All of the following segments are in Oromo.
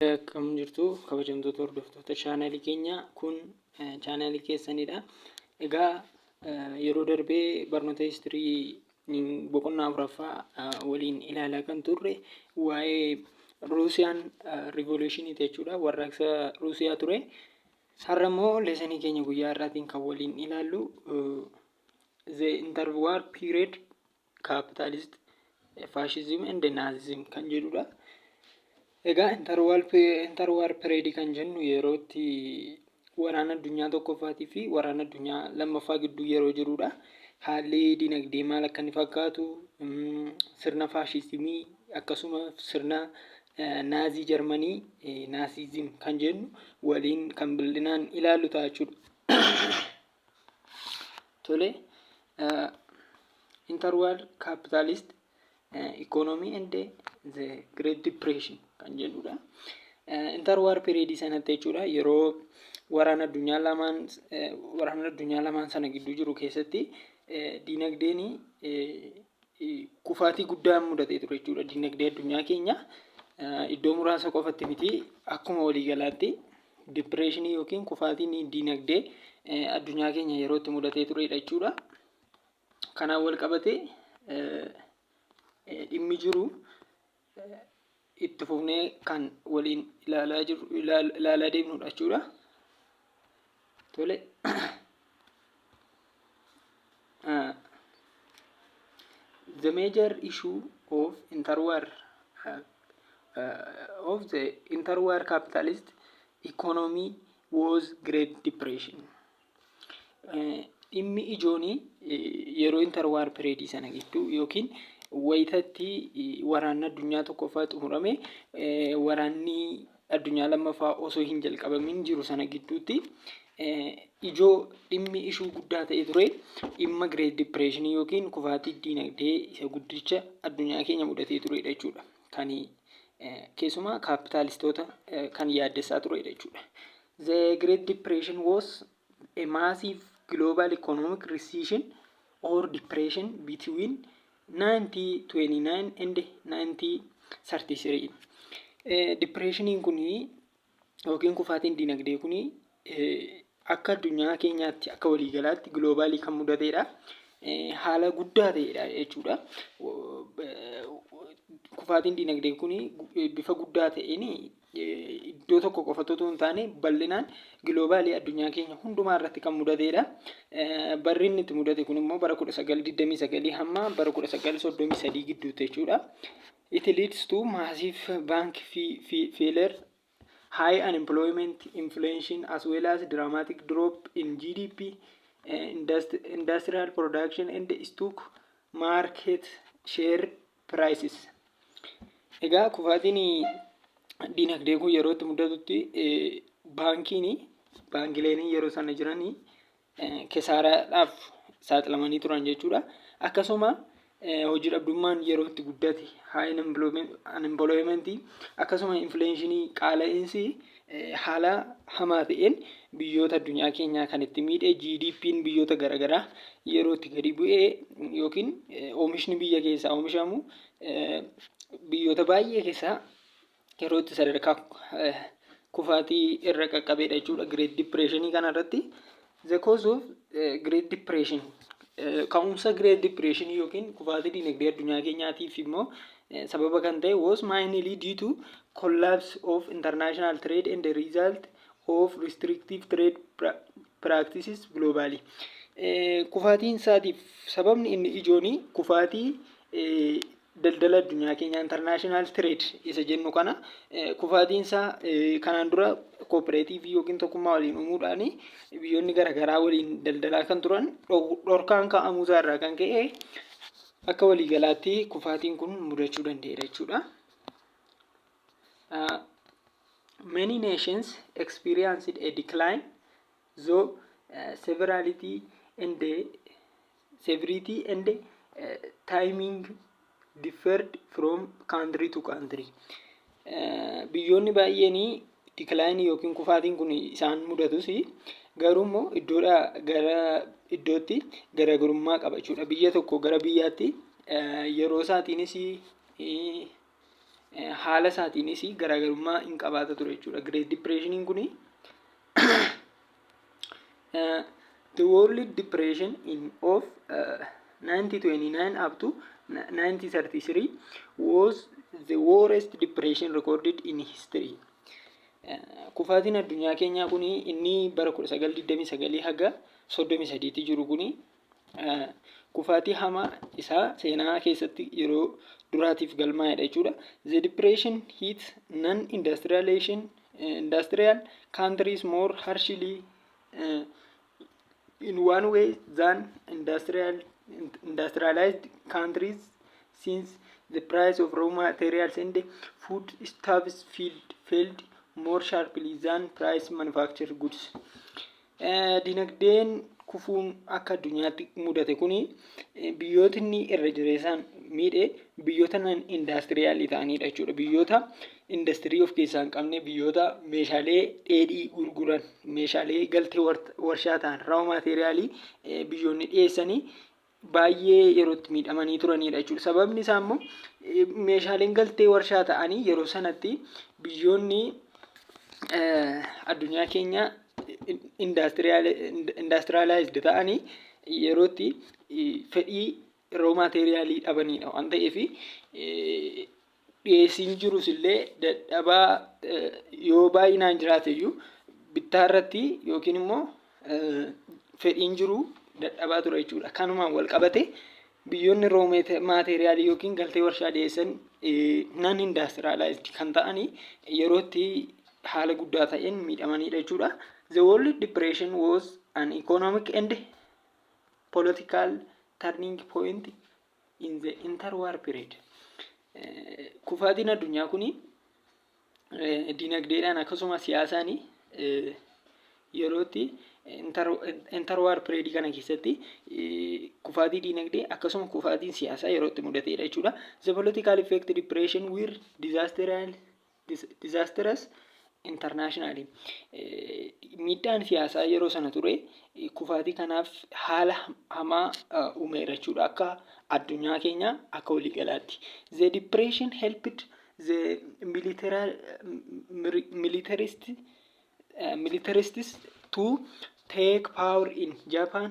Akkam jirtu kabajamtoota hordoftoota chaanaalii keenyaa kun chaanaalii keessanidha. Egaa yeroo darbee barnoota histirii boqonnaa afuraffaa waliin ilaalaa kan turre waa'ee Ruusiyaan riivoluushinii jechuudha warraaqsa Ruusiyaa ture. Har'a immoo leesanii keenya guyyaa har'aatiin kan waliin ilaallu the interwar period Capitalist Fascism and Nazism kan jedhudha. Egaa interwar period kan jennu yeroo itti waraana addunyaa tokkoffaatii fi waraana addunyaa lammaffaa gidduu yeroo jirudha. Haalli dinagdee maal akka inni fakkaatu sirna faashisimii akkasuma sirna naazii jarmanii naasizim kan jennu waliin kan bal'inaan ilaallu ta'a jechuudha. Tole, interwar capitalist economy and the great depression kan jedhudha. Interwar period sanatti jechuudha yeroo waraana addunyaa lamaan waraana addunyaa lamaan sana gidduu jiru keessatti dinagdeen kufaatii guddaan mudatee ture jechuudha. Dinagdee addunyaa keenya iddoo muraasa qofatti miti akkuma waliigalaatti dipireeshinii yookiin kufaatiin dinagdee addunyaa keenya yeroo itti mudatee turedha jechuudha. Kanaan wal qabatee dhimmi jiru itti fufnee kan waliin ilaalaa jirru ilaal- ilaalaa deemnudha jechuudha. Tole. Ah, the major issue of interwar uh, uh, of the interwar capitalist economy was Great Depression. Dhimmi ijoon yeroo inter waar pireedii sana gidduu yookiin wayitatti waraanni addunyaa tokkoffaa xumurame waraanni addunyaa lammaffaa osoo hin jalqabamin jiru sana gidduutti ijoo dhimmi ishuu guddaa ta'e ture dhimma Great Depression yookiin kufaatii diinagdee isa guddicha addunyaa keenya mudatee turedha jechuudha. Kan keessumaa kaapitaalistoota kan yaaddessaa turedha jechuudha. The Great Depression was a massive global economic recession or depression between 1929 and 1933. Dipireeshiniin kun yookiin kufaatiin dinagdee kun akka addunyaa keenyaatti akka waliigalaatti giloobaalii kan mudateedha. Haala guddaa ta'eedha jechuudha. Kufaatiin dinagdee kun bifa guddaa ta'een iddoo tokko qofatti utuu hin taane bal'inaan giloobaalii addunyaa keenya hundumaa irratti kan mudateedha. Barri inni itti mudate kun immoo bara 1929 hamma bara 1933 gidduutti jechuudha. It leads to massive bank failure, high unemployment, inflation as well as dramatic drop in GDP, industrial production and stock market share prices. Egaa kufaatiin dinagdee kun yeroo itti mudatutti baankiin baankileen yeroo sana jiran kesaaraadhaaf saaxilamanii turan jechuudha. Akkasuma hojii dhabdummaan yeroo itti guddate high unemployment akkasuma infleenshinii qaala'insi Haala hamaa ta'een biyyoota addunyaa keenyaa kan itti miidhe GDP'n biyyoota garaagaraa yeroo itti gadi bu'e yookiin oomishni biyya keessaa oomishamu biyyoota baay'ee keessaa yeroo itti sadarkaa kufaatii irra qaqqabeedha jechuudha. Great Depression kana irratti The cause of eh, Great Depression Eh, ka'umsa Great Depression yookiin kufaatii dinagdee addunyaa keenyaatiif immoo eh, sababa kan ta'e was mainly due to collapse of international trade and the result of restrictive trade pra- practices globally. Eh, kufaatiin isaatiif sababni inni ijooni kufaatii eh, daldala addunyaa keenyaa international trade isa jennu kana kufaatiinsaa kanaan dura kooperaatiivii yookiin tokkummaa waliin uumuudhaan biyyoonni garaagaraa waliin daldalaa kan turan dhorkaan kaa'amuusaa irraa kan ka'e akka waliigalaatti kufaatiin kun mudachuu danda'eera jechuudha. Many nations experienced a decline zo severality and severity and eh, timing differed from country to country Eh, biyyoonni baay'een decline yookiin kufaatiin kun isaan mudatus garuu immoo iddoodhaa gara iddootti garaagarummaa qaba jechuudha biyya tokko gara biyyaatti eh, yeroo isaatiinis eh, haala isaatiinis garaagarummaa hin qabaata ture jechuudha. Great Depression kuni the World Depression in of uh, 1929 up to 1933 was the worst depression recorded in history. Kufaatiin addunyaa keenyaa kuni inni bara 1929 haga 33 jiru kuni kufaatii hamaa isaa seenaa keessatti yeroo duraatiif galmaa'edha jechuudha. The depression hit non-industrial industrial countries more harshly uh, in one way than industrial industrialized countries since the price of raw materials and food stuffs filled, filled more sharply than price manufactured goods. Dinagdeen kufuun akka addunyaatti mudate kun biyyootni irra jireessaan miidhe biyyoota nan indaastiriyaalii ta'aniidha jechuudha. Biyyoota indastirii of keessaa hin qabne, biyyoota meeshaalee dheedhii gurguran, meeshaalee galtee warshaa ta'an, raw maateeriyaalii biyyoonni dhiyeessanii baay'ee yeroo itti miidhamanii turaniidha jechuudha. Sababni isaa immoo meeshaaleen galtee warshaa ta'anii yeroo sanatti biyyoonni addunyaa keenya indaastiraalaayizd ta'anii yeroo itti fedhii roo maateeriyaalii dhabaniidha waan ta'eef dhiyeessiin jirus illee dadhabaa yoo baay'inaan jiraate iyyuu bittaa irratti yookiin immoo fedhiin jiru dadhabaa ture jechuudha. Kanumaan wal qabate biyyoonni roo maateeriyaalii yookiin galtee warshaa dhiyeessan nan indaastiraalaayizdi kan ta'an yerootti haala guddaa ta'een miidhamanidha jechuudha. The World Depression was an economic and political turning point in the interwar period kufaatiin addunyaa kun dinagdeedhaan akkasuma siyaasaan yerootti interwar period kana keessatti kufaatii dinagdee akkasuma kufaatiin siyaasaa yerootti mudateedha jechuudha. The political effect depression were disaster and Disaastras International miidhaan siyaasaa yeroo sana ture kufaatii kanaaf haala hamaa uumeera jechuudha akka addunyaa keenya akka waliigalaatti. The depression helped the militarist militarists to take power in Japan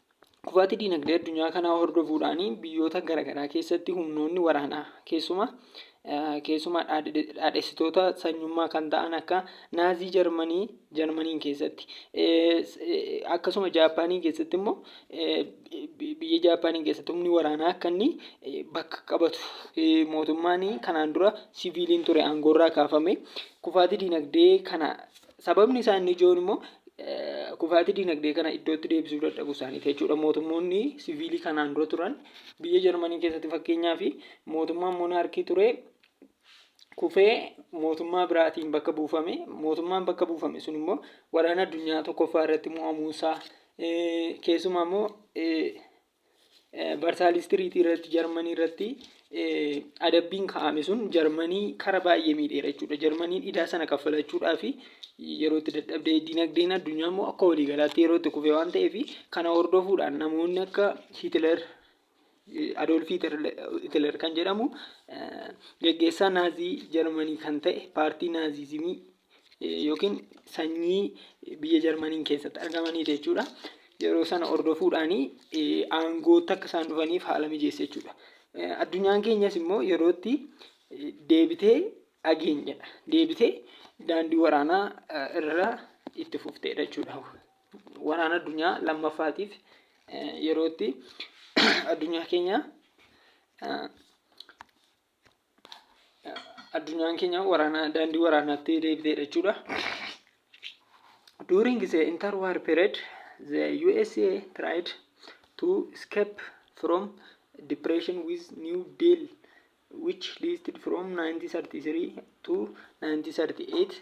Kufaatii diinagdee addunyaa kanaa hordofuudhaan biyyoota garaagaraa keessatti humnoonni waraanaa keessumaa keessumaa dhaadhessitoota sanyummaa kan ta'an akka naazii jarmanii jarmaniin keessatti akkasuma jaappaanii keessatti immoo biyya jaappaanii keessatti humni waraanaa akka inni bakka qabatu mootummaan kanaan dura siviiliin ture aangoorraa kaafame kufaatii diinagdee kana Sababni isaa inni ijoon immoo kufaatii dinagdee kana iddootti deebisuu dadhabuu isaaniiti jechuudha. Mootummoonni siviilii kanaan dura turan biyya Jarmanii keessatti fakkeenyaa fi mootummaan monaarkii ture kufee mootummaa biraatiin bakka buufame. Mootummaan bakka buufame sun immoo waraana addunyaa tokkoffaa irratti mo'amuu isaa keessumaa immoo Varsaaliis Tiriitii irratti Jarmanii irratti adabbiin kaa'ame sun Jarmanii kara baay'ee miidheera jechuudha. Jarmaniin idaa sana kaffalachuudhaa fi yeroo itti dadhabdee dinagdeen addunyaa immoo akka waliigalaatti yeroo itti kufee waan ta'eef kana hordofuudhaan namoonni akka Hitler Adoolf Hitler kan jedhamu geggeessaa naazii Jarmanii kan ta'e paartii naaziizimii yookiin sanyii biyya Jarmaniin keessatti argamaniiti jechuudha. Yeroo sana hordofuudhaan aangootti akka isaan dhufaniif haala mijeessa jechuudha. Addunyaan keenyas immoo yerootti deebitee ageenyedha. Deebitee daandii waraanaa irra itti fufteedha jechuudha. Waraana addunyaa lammaffaatiif yerootti addunyaa keenya addunyaan keenya waraanaa daandii waraanaatti deebiteedha jechuudha. During the interwar period, the USA tried to escape from depression with New Deal, which lasted from 1933 to 1938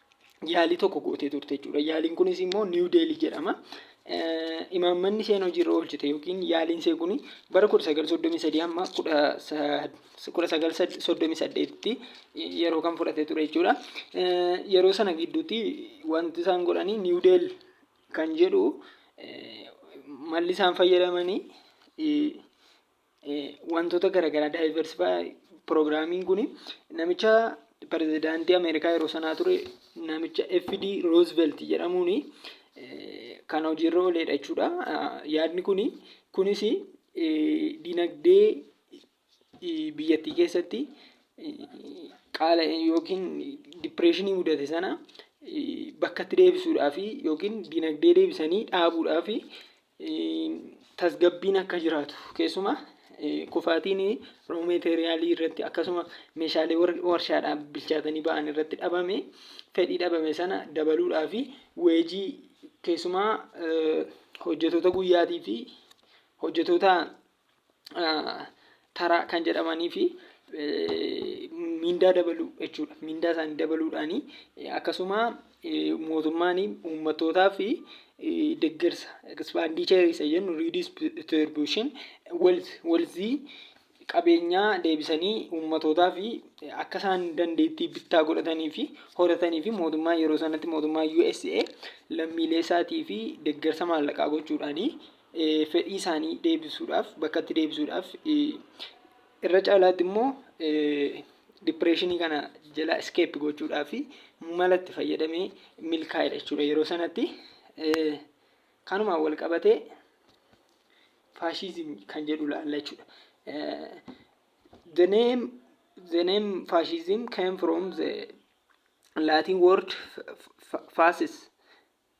yaalii tokko gootee turte jechuudha. Yaaliin kunis immoo Niiw Deelii jedhama. Imaammanni isheen hojiirra oolchite yookiin yaaliin ishee kun bara 1933 amma 1938tti yeroo kan fudhate ture jechuudha. Yeroo sana gidduutti wanti isaan godhanii Niiw Deel kan jedhu malli isaan fayyadamanii wantoota garagaraa diversify program kun namicha pirezidaantii Ameerikaa yeroo sanaa ture namicha FD Roosevelt jedhamuun kan hojiirra ooleedha jechuudha. Yaadni kun kunis dinagdee biyyattii keessatti qaala yookiin dipireeshinii mudate sana bakkatti deebisuudhaaf yookiin dinagdee deebisanii dhaabuudhaaf tasgabbiin akka jiraatu keessumaa kufaatiin roo meeteeriyaalii irratti akkasuma meeshaalee warshaadhaa bilchaatanii ba'an irratti dhabame fedhii dhabame sana dabaluudhaa fi weejii keessumaa hojjetoota guyyaatii fi hojjetoota taraa kan jedhamanii fi mindaa dabaluu jechuudha. Mindaa isaanii dabaluudhaani akkasuma mootummaan uummattootaa fi deggersa expenditure isa jennu redistribution wealth wealthii qabeenyaa deebisanii uummattootaa fi akka isaan dandeettii bittaa godhatanii fi horatanii fi mootummaa yeroo sanatti mootummaa USA lammiilee isaatii fi deggersa maallaqaa gochuudhaani fedhii isaanii deebisuudhaaf bakkatti deebisuudhaaf irra caalaatti immoo dipireeshinii kana jala iskeep gochuudhaaf mala itti fayyadamee milkaa'edha jechuudha yeroo sanatti kanumaan wal qabatee faashiizimii kan jedhu laalla jechuudha. The name, the name fascism came from the Latin word fascis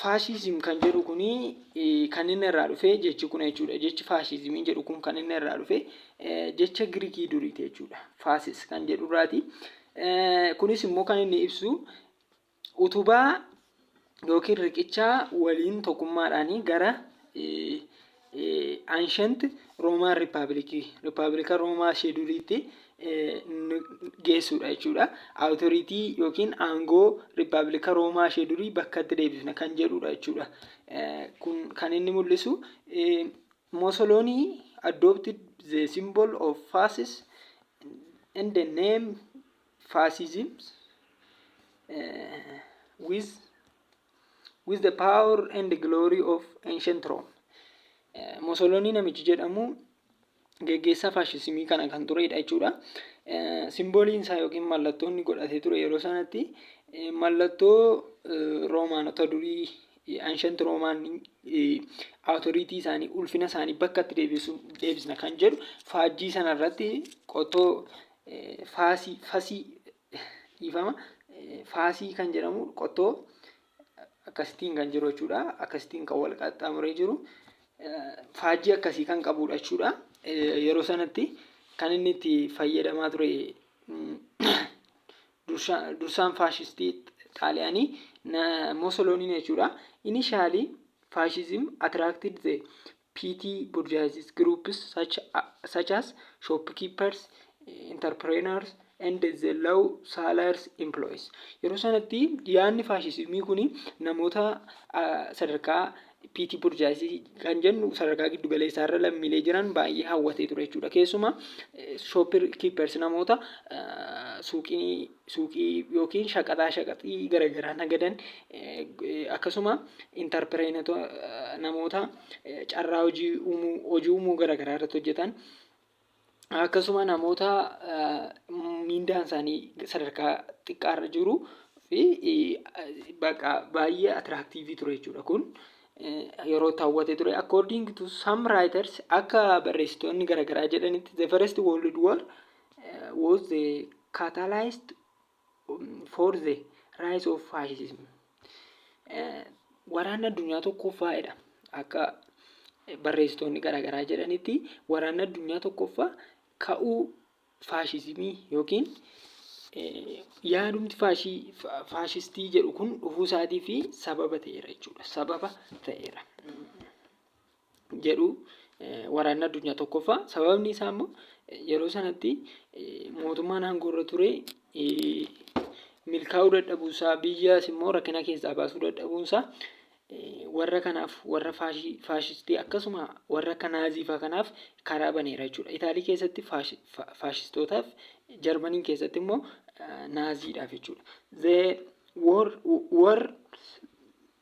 Faashiizim kan jedhu kun kan inni irraa dhufe jechi kun jechuudha. Jechi faashiizimii jedhu kun kan inni irraa dhufe jecha Girikii duriiti jechuudha. Faasis kan jedhu irraati. Kunis immoo kan inni ibsu utubaa yookiin riqichaa waliin tokkummaadhaan gara Ancient Roman Republic Rippabilika Roomaa ishee duriitti geessuudha jechuudha. Authority yookiin aangoo Rippabilika Roomaa ishee durii bakkatti deebifna kan jedhuudha jechuudha. Kun kan inni mul'isu Mussolini adopted the symbol of fascist and the name fascism with with the power and glory of ancient Rome. Eh, Mosolonii namichi jedhamu geggeessaa faashisimii kana kan turedha jechuudha. Eh, Simbooliin isaa yookiin mallattoo inni godhatee ture yeroo sanatti eh, mallattoo eh, Roomaanota durii eh, ancient Roomaan awutoriitii isaanii ulfina isaanii bakkatti deebisu deebisna kan jedhu faajjii sana irratti qottoo eh, faasii fasii dhiifama faasii kan jedhamu qottoo akkasitiin kan jiru jechuudha. Akkasitiin kan wal qaxxaamuree jiru faajjii akkasii kan qabudha jechuudha. Yeroo sanatti kan inni itti fayyadamaa ture dursaan faashistii xaaliyaanii Mosoloniin jechuudha. Inishaalii faashizim atiraaktiid ta'e PT bourgeoisie groups such, such as shopkeepers, entrepreneurs and the low salaries employees. Yeroo sanatti yaadni faashisimii kun namoota sadarkaa PT bourgeoisie kan jennu sadarkaa giddu galeessaa irra lammiilee jiran baay'ee hawwatee ture jechuudha. Keessumaa shopkeepers namoota suuqii suuqii yookiin shaqaxaa shaqaxii garagaraa nagadan akkasuma intarpireenota namoota carraa hojii uumuu hojii uumuu garagaraa irratti hojjetan akkasuma namoota miindaan isaanii sadarkaa xiqqaa irra jiru fi baqa baay'ee atiraaktiivii ture jechuudha kun yeroo taawwate ture according to some writers akka barreessitoonni garagaraa jedhanitti the first world war was the catalyst for the rise of fascism. Waraanni addunyaa tokkoffaadha. Akka barreessitoonni garaagaraa jedhanitti waraanni addunyaa tokkoffaa ka'uu faashizimii yookiin yaadumti faashistii jedhu kun dhufuu isaatii fi sababa ta'eera jechuudha. Sababa ta'eera. jedhu waraanni addunyaa tokkoffaa sababni isaa immoo yeroo sanatti mootummaan aangoo irra ture milkaa'uu dadhabuunsaa biyyaas immoo rakkina keessaa baasuu dadhabuunsaa warra kanaaf warra faashistii akkasuma warra akka naaziifaa kanaaf karaa baneera jechuudha. Itaalii keessatti faashistootaaf jarmaniin keessatti immoo naaziidhaaf jechuudha. The war, war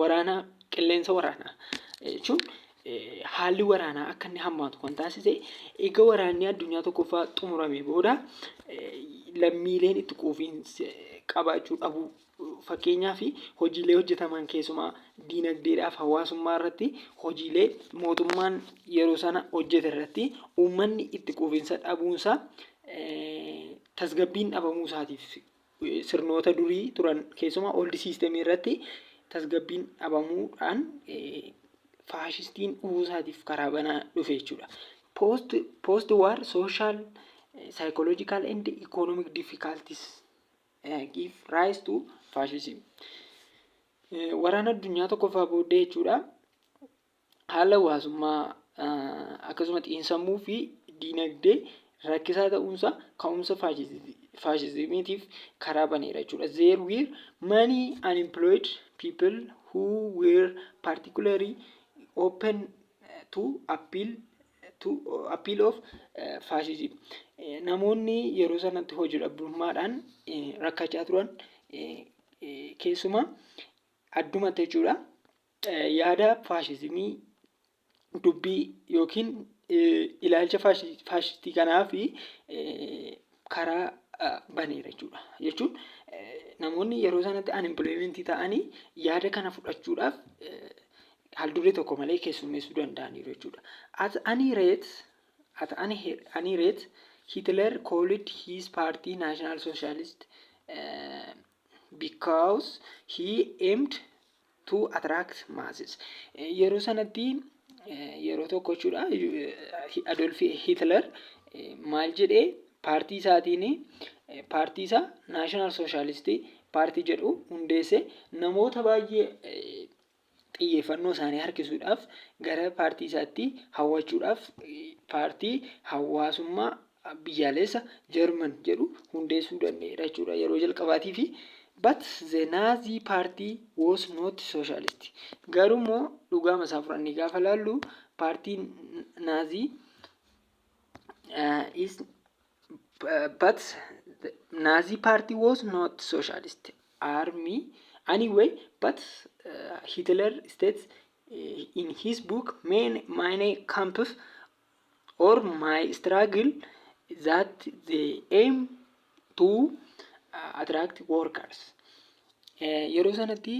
waraanaa qilleensa waraanaa jechuun haalli waraanaa akka inni hammaatu kan taasise eega waraanni addunyaa tokkoffaa xumuramee booda lammiileen itti quufiinsa qabaachuu dhabuu fakkeenyaa fi hojiilee hojjetaman keessumaa diinagdeedhaaf hawaasummaa irratti hojiilee mootummaan yeroo sana hojjete irratti uummanni itti quufiinsa dhabuunsaa tasgabbiin dhabamuu isaatiif sirnoota durii turan keessumaa old system irratti tasgabbiin dhabamuudhaan faashistiin dhufuu isaatiif karaa banaa dhufe jechuudha. Post, post war social, psychological and economic difficulties give rise to fascism. Waraana addunyaa tokkoffaa booddee jechuudha. haala hawaasummaa akkasuma xiinsammuu fi diinagdee rakkisaa ta'uunsaa ka'umsa faashizimiitiif karaa baneera jechuudha. There were many unemployed people who were particularly open to appeal to appeal of uh, fascism. Eh, Namoonni yeroo sanatti hojii dhabdummaadhaan eh, rakkachaa turan eh, eh, keessumaa addumatti jechuudha Yaada faashizimii, dubbii yookiin ilaalcha faashistii kanaaf karaa baneera jechuudha. Jechuun namoonni yeroo sanatti unemployment ta'anii yaada kana fudhachuudhaaf haalduree tokko malee keessummeessuu danda'aniiru jechuudha. At any rate, at any, any rate Hitler called his party National Socialist uh, because he aimed to attract masses. Yeroo sanatti yeroo tokko jechuudha Adolf Hitler maal jedhee paartii isaatiin paartii isaa National Socialist paartii jedhu hundeesse namoota baay'ee xiyyeeffannoo isaanii harkisuudhaaf gara paartii isaatti hawwachuudhaaf paartii hawaasummaa biyyaaleessa German jedhu hundeessuu danda'eera jechuudha yeroo jalqabaatii fi but the Nazi party was not socialist garuu immoo dhugaama isaa fudhannee gaafa laallu paartii naazii uh, is uh, but the Nazi party was not socialist army anyway but uh, Hitler states uh, in his book many, many camps or my struggle that they aim to attract workers yeroo sanatti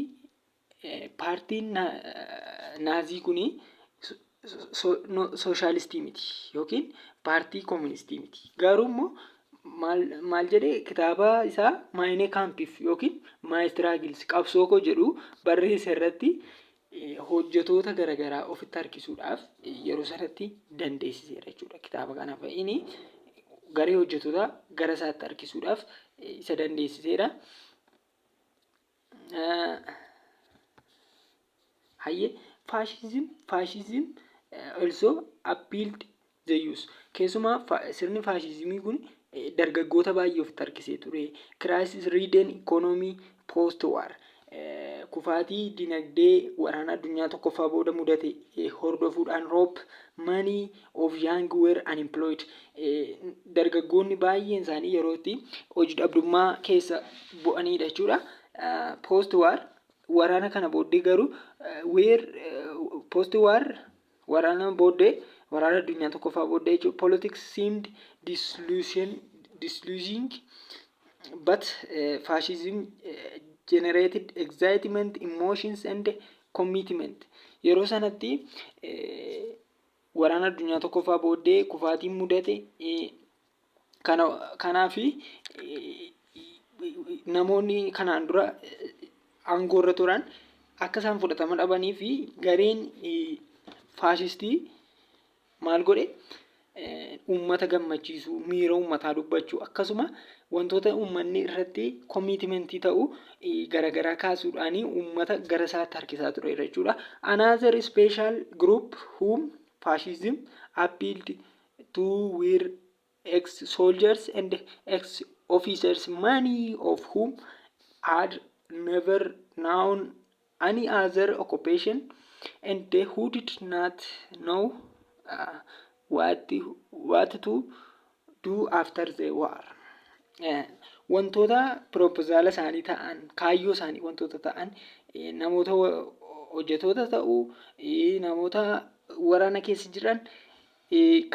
paartiin naazii kun sooshaalistii miti yookiin paartii kooministii miti garuu immoo maal jedhee kitaaba isaa maayinee kaampiif yookiin maayistiraagils qabsoo koo jedhu barreessa irratti hojjetoota garagaraa ofitti harkisuudhaaf yeroo sanatti dandeessiseera jechuudha. Kitaaba kana fa'iin garee hojjetoota gara isaatti harkisuudhaaf isa dandeessiseera. Hayyee faashizim faashizim also appealed Zeeyus. Keessumaa sirni faashiizimii kun dargaggoota baay'ee ofitti harkisee ture. Crisis Ridden Economy Post War. Kufaatii dinagdee waraana addunyaa tokkoffaa booda mudate hordofuudhaan Roop Manii of Young Were Unemployed. Dargaggoonni baay'een isaanii yeroo itti hojii dhabdummaa keessa bu'aniidha jechuudha. Post War waraana kana booddee garuu weer post war Waraana booddee, waraana addunyaa tokkoffaa booddee jechuudha. Politics seemed disillusion- disillusioning, but eh, fascism eh, generated excitement, emotions and commitment. Yeroo sanatti eh, waraana addunyaa tokkoffaa booddee kufaatiin mudate eh, Kanaaf namoonni kanaan dura aangoorra turan akka isaan fudhatama dhabanii fi gareen faashistii maal godhe uummata gammachiisuu miira uummataa dubbachuu akkasuma wantoota uummanni irratti komiitimentii ta'u garaagaraa kaasuudhaan uummata gara isaatti harkisaa tureera jechuudha. Another special group whom fascism appealed to were ex soldiers and ex officers, many of whom had never known any other occupation and who did not know uh, what, what to do after the war. Eh, Wantoota piropozaala isaanii ta'an, kaayyoo isaanii wantoota ta'an, eh, namoota wa- hojjetoota ta'uu, eh, namoota waraana keessa jiran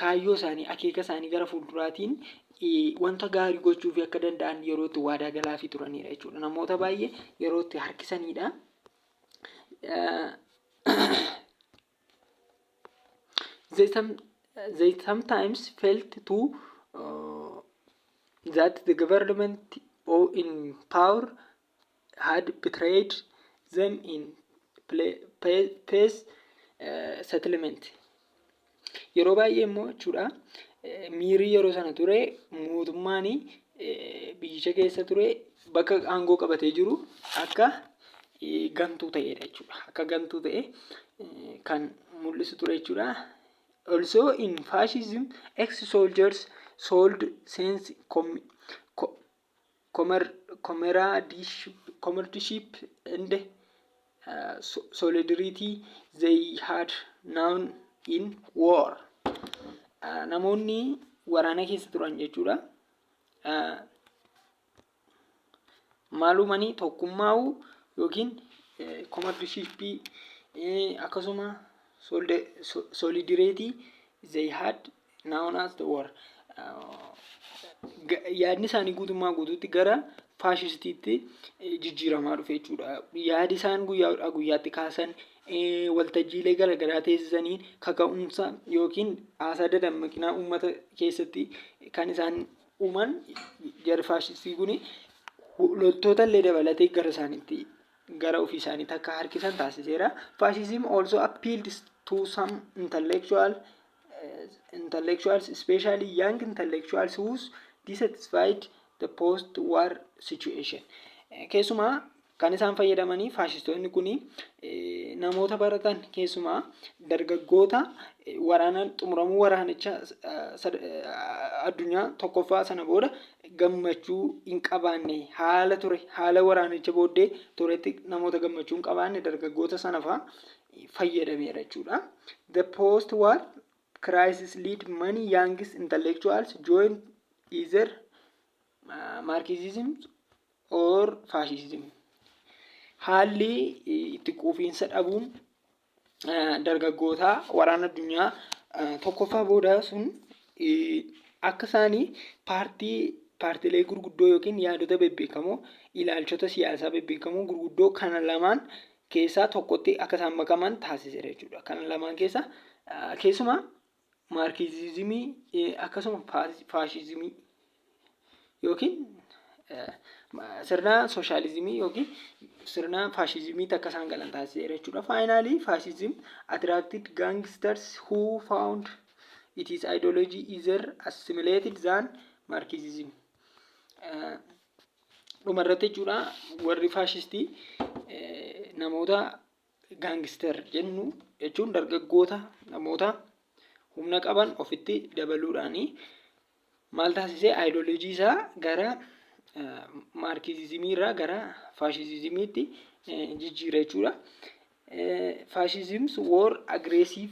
kaayyoo isaanii, akeeka isaanii gara fuulduraatiin wanta gaarii gochuufii akka danda'an yeroo itti waadaa galaafii turanidha jechuudha. Namoota baay'ee yeroo itti harkisanidha. They, some, they sometimes felt to uh, that the government or in power had betrayed them in peace settlement yeroo baay'ee immoo jechuudha miirii yeroo sana ture mootummaan biyyicha keessa ture bakka aangoo qabatee jiru akka gantuu ta'edha jechuudha akka gantuu ta'e kan mul'isu ture jechuudha also in fascism ex soldiers sold sense comradeship and solidarity they had known in war namoonni waraana keessa turan jechuudha maalumanii tokkummaa'u yookiin comradeshipii akkasuma solidareetii they had Noun as the war. Yaadni isaanii guutummaa guutuutti gara faashistiitti jijjiiramaa dhufe jechuudha. Yaadi isaan guyyaa guyyaatti kaasan waltajjiilee garaagaraa teessisanii kaka'umsa yookiin haasaa dadammaqinaa uummata keessatti kan isaan uuman jarri faashistii kun loltoota illee dabalatee gara isaaniitti gara ofii isaaniitti akka harkisan taasiseera. Faashism also appealed to some intellectual intellectuals, especially young intellectuals who's dissatisfied the post-war situation. Keessumaa kan isaan fayyadamanii faashistoonni kun namoota baratan keessumaa dargaggoota waraana xumuramuu waraanicha addunyaa tokkoffaa sana booda gammachuu hin qabaanne haala ture haala waraanicha booddee turetti namoota gammachuu hin qabaanne dargaggoota sanafaa fayyadameera jechuudha. The post-war crisis lead many young intellectuals join either uh, Marxism or fascism. Haalli itti quufiinsa dhabuun uh, dargaggootaa waraana addunyaa uh, tokkoffaa booda sun uh, akka isaanii paartii paartilee gurguddoo yookiin yaadota bebbeekamoo ilaalchota siyaasaa bebbeekamoo gurguddoo kana lamaan keessaa tokkotti akka isaan makaman taasiseera jechuudha. Kana lamaan keessa keessumaa maarkiizimii akkasuma faashizimii yookiin sirna sooshaalizimii yookiin sirna faashizimiitti akka isaan galan taasiseera jechuudha. Faayinaalii faashizim atiraaktiid gaangisters huu faawund it is ideology either assimilated than marxism. Dhuma irratti jechuudha warri faashistii namoota gaangister jennu jechuun dargaggoota namoota humna qaban ofitti dabaluudhaanii maal taasisee aayidoloojii isaa gara maarkiizimii irraa gara faashiizimiitti jijjiira jechuudha. Faashiizimii war agreesiif.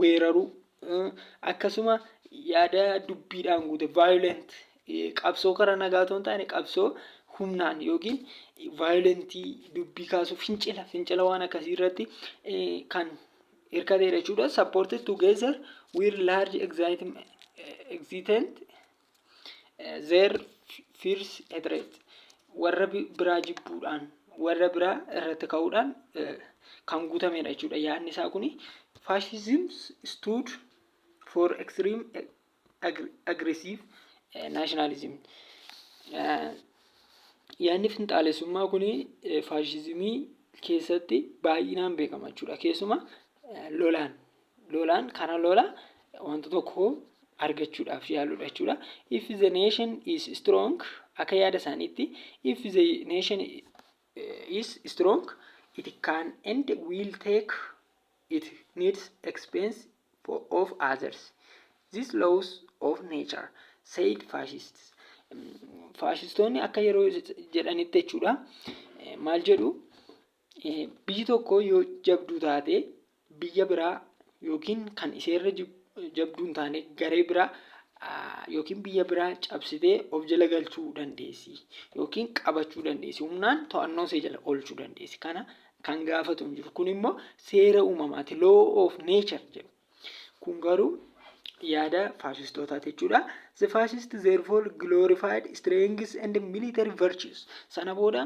weeraruu, akkasuma yaada dubbiidhaan guute violent qabsoo karaa nagaa otoo hin taane qabsoo humnaan yookiin vaayolentii dubbii kaasuu fincila fincila waan akkasii irratti kan hirkateedha jechuudha. Support together with large excitement Their fears hatred warra bi- biraa jibbuudhaan warra biraa irratti ka'uudhaan eh, kan guutamedha jechuudha yaadni isaa kuni fascism stood for extreme eh, aggr- aggressive eh, nationalism Eh, yaadni finxaalessummaa kun faashizimii keessatti baay'inaan beekama jechuudha keessumaa eh, lolaan lolaan kana lola wanta tokko argachuudhaaf yaaluudha jechuudha. If the nation is strong akka yaada isaaniitti if the nation is strong it can and will take it needs expense for of others. This laws of nature said fascists. Faashistoonni akka yeroo jedhanitti jechuudha maal jedhu Biyyi tokko yoo jabduu taate biyya biraa yookiin kan iseerra jabduu hin taane garee biraa yookiin biyya biraa cabsitee of jala galchuu dandeessi yookiin qabachuu dandeessi humnaan to'annoo see jala oolchuu dandeessi kana kan gaafatu hin jiru kun immoo seera uumamaati law of nature jedhu Kun garuu yaada faashistootaati jechuudha. The fascist therefore glorified strengths and military virtues. Sana booda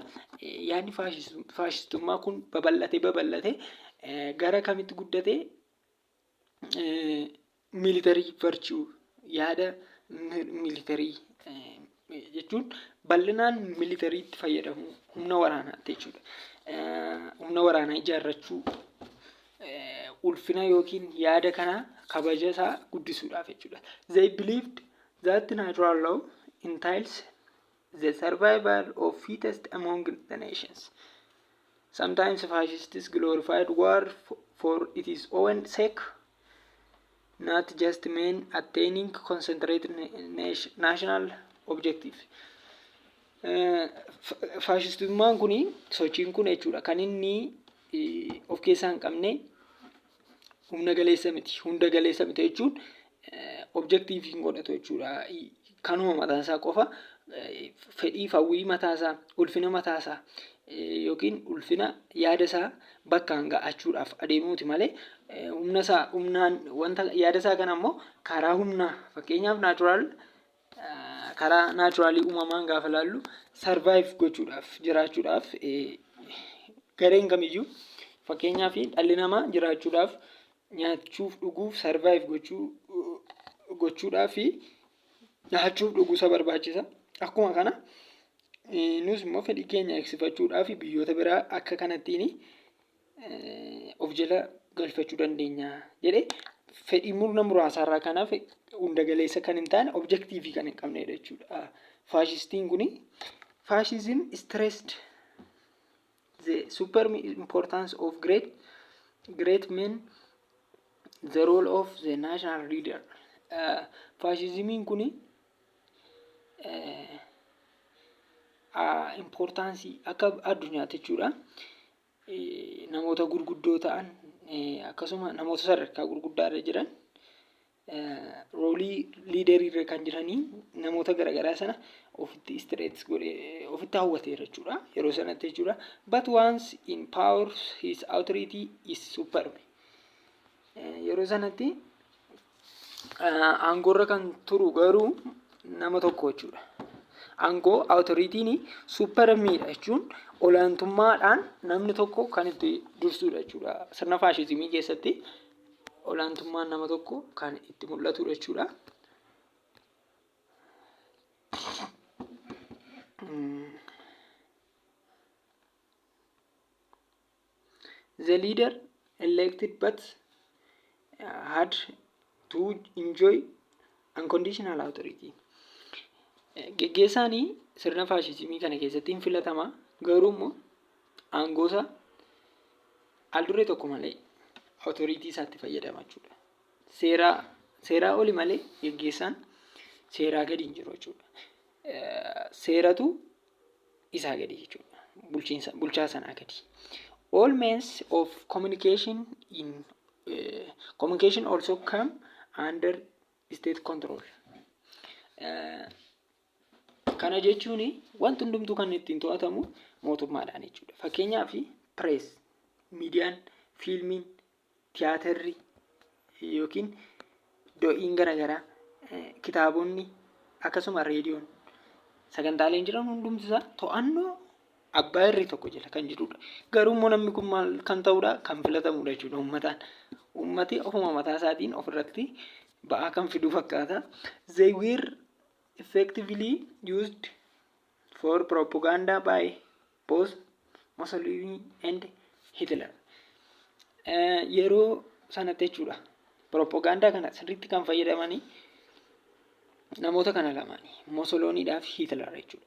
eh, yaadni faashis- faashistummaa kun babal'ate babal'ate eh, gara kamitti guddate? Eh, military virtue yaada mi- military eh, jechuun bal'inaan militariitti fayyadamuu humna waraanaatti jechuudha. Humna waraanaa ijaarrachuu ulfina yookiin yaada kana kabaja isaa guddisuudhaaf jechuudha. They believed that natural law entails the survival of fittest among the nations. Sometimes fascists glorified war for its own sake. not just men attaining concentrated national objective. Faashistummaan kun sochiin kun jechuudha kan inni of keessaa hin qabne humna galeessa miti hunda galeessa miti jechuun objektiiviin godhatu jechuudha kanuma mataa isaa qofa fedhiif hawwii mataa isaa ulfina mataa isaa yookiin ulfina yaada isaa bakkaan ga'achuudhaaf adeemuuti malee humna isaa humnaan wanta yaada isaa kana immoo karaa humnaa fakkeenyaaf naachuraal karaa naachuraalii uumamaan gaafa laallu sarvaayiv gochuudhaaf jiraachuudhaaf gareen kamiyyuu fakkeenyaaf dhalli namaa jiraachuudhaaf nyaachuuf dhuguuf survive gochuu gochuudhaaf nyaachuuf dhuguu isa barbaachisa. Akkuma kana nus immoo fedhii keenya eegsifachuudhaaf biyyoota biraa akka kanattiin of jala galfachuu dandeenya jedhee fedhii murna muraasaarraa kan hafe hunda galeessa kan hin taane objektiivii kan hin qabnedha jechuudha. Faashistiin kun faashizim stressed The superb importance of great great men the role of the national leader faashizimiin kun importansii akka addunyaatti jechuudha namoota gurguddoo ta'an akkasuma namoota sadarkaa gurguddaa irra jiran roolii liiderii irra kan jiranii namoota garagaraa sana ofitti istireets godhe ofitti hawwateera jechuudha yeroo sanatti jechuudha but once in power his authority is superb yeroo sanatti aangoorra kan turu garuu nama tokko jechuudha aangoo authoritiin supermiidha jechuun olaantummaadhaan namni tokko kan itti dursuudha jechuudha sirna faashizimii keessatti olaantummaan nama tokko kan itti mul'atudha jechuudha. The leader elected but had to enjoy unconditional authority. Geggeessaanii sirna faashizimii kana keessatti hin filatama garuu immoo aangoosaa aldurree tokko malee otoriitii isaatti fayyadama jechuudha. Seeraa seeraa oli malee geggeessaan seeraa gadi hin jiru jechuudha. Seeratu isaa gadi jechuudha. Bulchiinsa bulchaa sanaa gadi. All means of communication in uh, communication also come under state control. Uh, Kana jechuun wanti hundumtuu kan ittiin to'atamu mootummaadhaan jechuudha. Fakkeenyaaf pirees, miidiyaan, fiilmiin, tiyaatarri yookiin do'iin garaagaraa, kitaabonni akkasuma reediyoon sagantaaleen jiran hundumti isaa to'annoo abbaa irree tokko jala kan jirudha. Garuu immoo namni kun maal kan ta'udha? Kan filatamudha jechuudha uummataan. Uummati ofuma mataa isaatiin ofirratti ba'aa kan fidu fakkaata. They were effectively used for propaganda by both Mussolini and Hitler. Eh, Yeroo sanatti jechuudha. Propaganda kana sirriitti kan fayyadamanii namoota kana lamaani. Mussoliniidhaa fi Hitler jechuudha.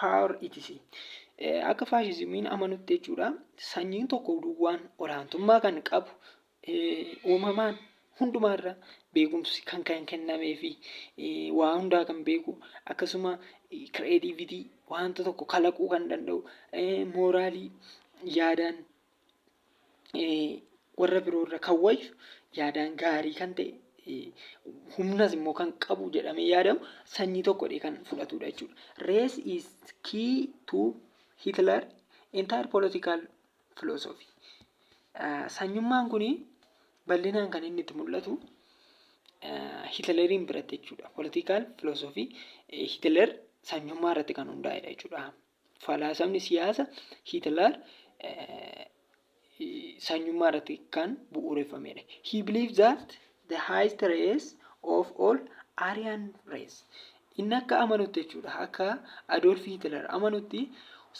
power etc. Akka faashizimiin amanutti jechuudha sanyiin tokko duwwaan olaantummaa kan qabu uumamaan hundumaarra beekumsi kan kan kennamee fi waa hundaa kan beeku akkasuma kireetiivitii wanta tokko kalaquu kan danda'u mooraalii yaadaan warra biroo irra kan wayyu yaadaan gaarii kan ta'e humnas immoo kan qabu jedhamee yaadamu sanyii tokkodha kan fudhatudha jechuudha. Race is key to Hitler entire political philosophy. Sanyummaan kun bal'inaan kan inni itti mul'atu Hitleriin biratti jechuudha. Political philosophy Hitler sanyummaa irratti kan hundaa'edha jechuudha. Falaasamni siyaasa Hitler sanyummaa irratti kan bu'uureffamedha. He believed that the highest race of all Aryan race. Inni akka amanutti jechuudha. Akka Adolf Hitler amanutti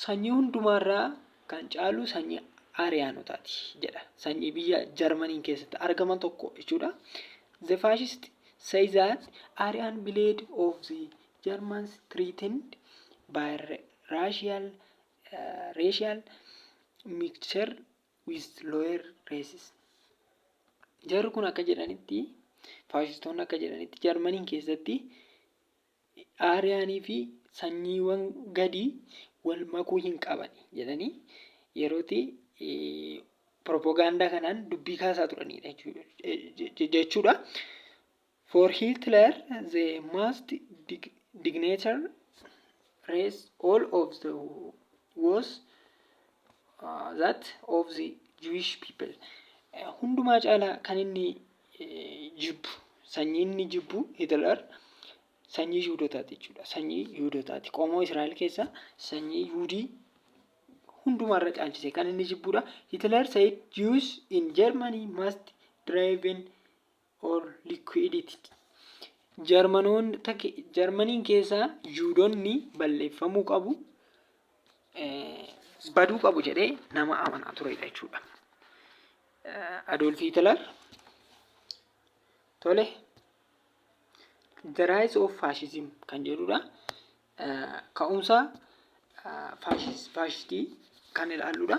sanyii hundumaarraa kan caalu sanyii Ariyaanotaati jedha. Sanyii biyya Jarmaniin keessatti argaman tokko jechuudha. The fascist say that Aryan blade of the Germans threatened by racial, racial mixture with lower races. Jarri kun akka jedhanitti faashistoonni akka jedhanitti Jarmaniin keessatti aariyaanii fi sanyiiwwan gadii wal makuu hin qaban jedhanii yerootti propagaandaa kanaan dubbii kaasaa turanidha jechuudha. For Hitler the most dig dignitary race all of the was uh, that of the Jewish people. Eh, Hundumaa caalaa kan inni eh, jibbu sanyii inni jibbu Hitler sanyii Yihudotaati jechuudha. Sanyii Yihudotaati. Qomoo Israa'el keessaa sanyii Yihudii hundumaarra caalchise kan inni jibbudha. Hitler said Jews in Germany must driven or liquidity. Jarmanoota ke- Jarmaniin keessa Yihuudonni balleeffamuu qabu eh, baduu qabu jedhee nama amanaa turedha jechuudha. Eh, Adolf Hitler tole The Rise of Fascism kan jedhudha. Eh, Ka'umsa eh, faashis- faashistii kan ilaalludha.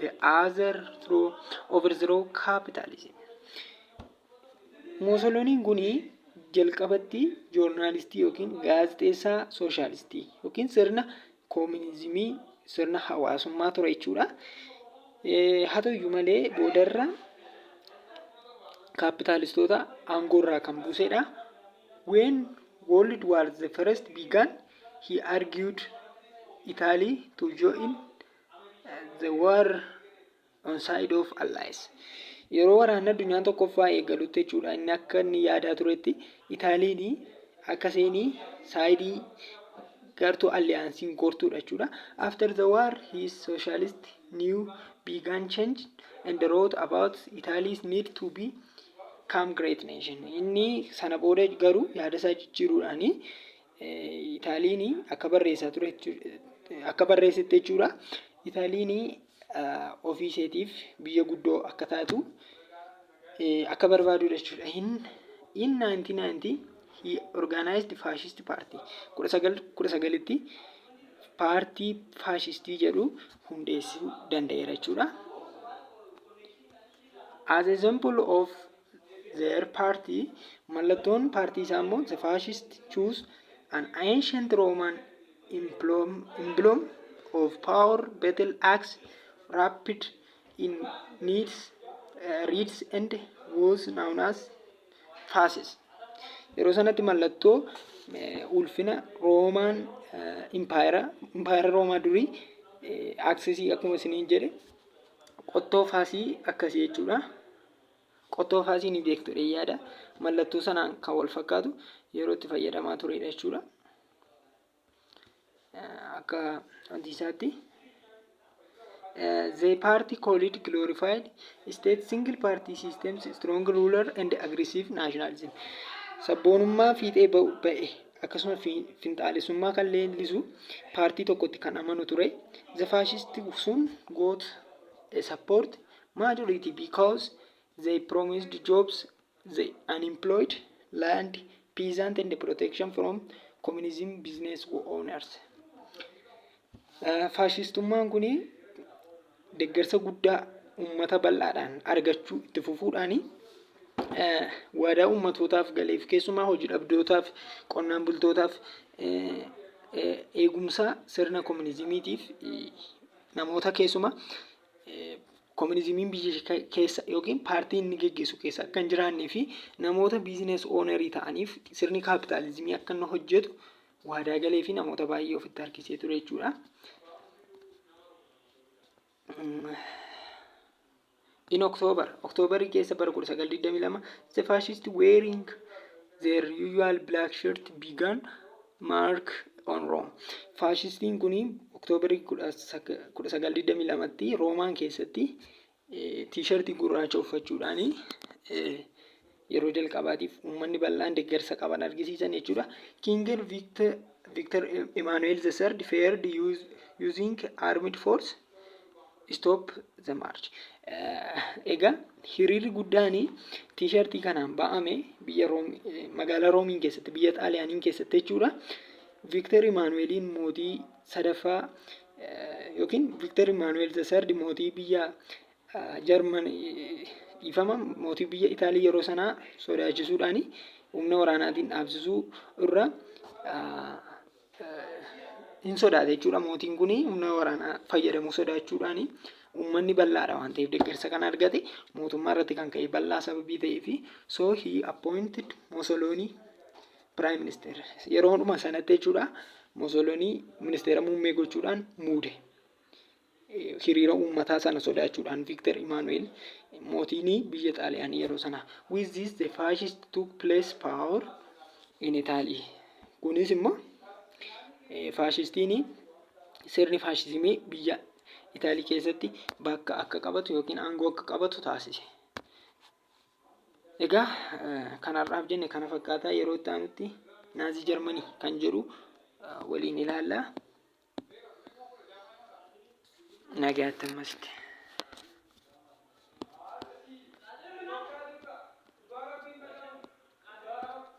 the other through overthrow capitalism. Mussoliniin kun jalqabatti joornaalistii yookiin gaazexeessaa sooshaalistii yookiin sirna koominizimii sirna hawaasummaa ture jechuudha. Eh, Haa ta'uyyuu malee boodarra kaapitaalistoota aangoorraa kan buusedha. When World War the First began, he argued Italy to join The War on Side of Allies Yeroo waraanni addunyaa tokkoffaa eegalutti jechuudha inni akka inni yaadaa turetti Itaaliin akka seenii saayidii gartuu alliyaansiin gortuudha jechuudha. After the war his socialist new began change and wrote about Italy's need to be come great nation. Inni sana booda garuu yaada isaa jijjiiruudhaanii Itaaliini akka barreessaa ture akka barreessetti jechuudha. Itaaliini ofii isheetiif biyya guddoo akka taatu akka barbaadudha jechuudha. In, in 1990 he organized fascist party 1919tti paartii faashistii jedhu hundeessuu danda'eera jechuudha. As a symbol of their party, Mallattoon paartii isaa immoo the fascist choose an ancient Roman emblem emblem of power, battle axe, wrapped in neat reeds and was known as fasces. Yeroo sanatti mallattoo eh, ulfina Roomaan impaayera impaayera Roomaa durii aksesii akkuma isiniin jedhe Qottoo faasii akkasii jechuudha. Qottoo faasii ni beektu yaada. Mallattoo sanaan kan wal fakkaatu yeroo itti fayyadamaa turedha jechuudha. Akka antiisaatti. They party called glorified state single party systems strong ruler and aggressive nationalism. Sabboonummaa fiixee ba'e akkasuma finxaalessummaa kan leellisu paartii tokkotti kan amanu ture. The fascist soon got a support majority because they promised jobs, the unemployed, land, peasant and protection from communism business owners. Faashistummaan kun deeggarsa guddaa uummata bal'aadhaan argachuu itti fufuudhaan waadaa uummatootaaf gale keessumaa hojii dhabdootaaf, qonnaan bultootaaf eegumsa sirna komuniizimiitiif namoota keessumaa komuniizimiin biyya keessa yookiin paartii inni gaggeessu keessa akka hin jiraannee fi namoota biizinasii oonarii ta'aniif sirni kaapitaalizimii akka inni hojjetu waadaa galee fi namoota baay'ee ofitti harkisee ture jechuudha. In October, October keessa bara 1922, the fascist wearing their usual black shirt began mark on Rome. Faashistiin kun October 1922tti Roomaan keessatti T-shirt gurraacha uffachuudhaan yeroo jalqabaatiif uummanni bal'aan deeggarsa qaban argisiisan jechuudha. Kinger Victor, Victor Emmanuel the third fared use, using armed force stop the march. Eh, Egaa hiriirri guddaan tiishartii kanaan ba'ame biyya Room, eh, magaalaa Roomiin keessatti biyya Xaaliyaaniin keessatti jechuudha. Victor Emmanueliin mootii sadaffaa yookiin Viktar Imaanu'eel the third mootii biyya Jarman dhiifama mootii biyya Itaalii yeroo sanaa sodaachisuudhaan humna waraanaatiin dhaabsisuu irra hin sodaate jechuudha. Mootiin kun humna waraanaa fayyadamuu sodaachuudhaan uummanni bal'aadha waan ta'eef deeggarsa kan argate mootummaa irratti kan ka'e bal'aa sababii ta'eef so he appointed Mussolini Piraayim Ministeer yeroo hunduma sanatti jechuudha Mosolonii ministeera muummee gochuudhaan muude. Hiriira uummataa sana sodaachuudhaan Viiktar Imaanu'eel mootiin biyya Xaaliyaanii yeroo sana. With this the fascist took place power in Italy. Kunis immoo faashistiin sirni faashizimii biyya Itaalii keessatti bakka akka qabatu yookiin aangoo akka qabatu taasise. Egaa kan har'aaf jenne kana fakkaataa yeroo itti aanutti naazii jarmanii kan jedhu waliin ilaalla. Nagaatti ammasitti.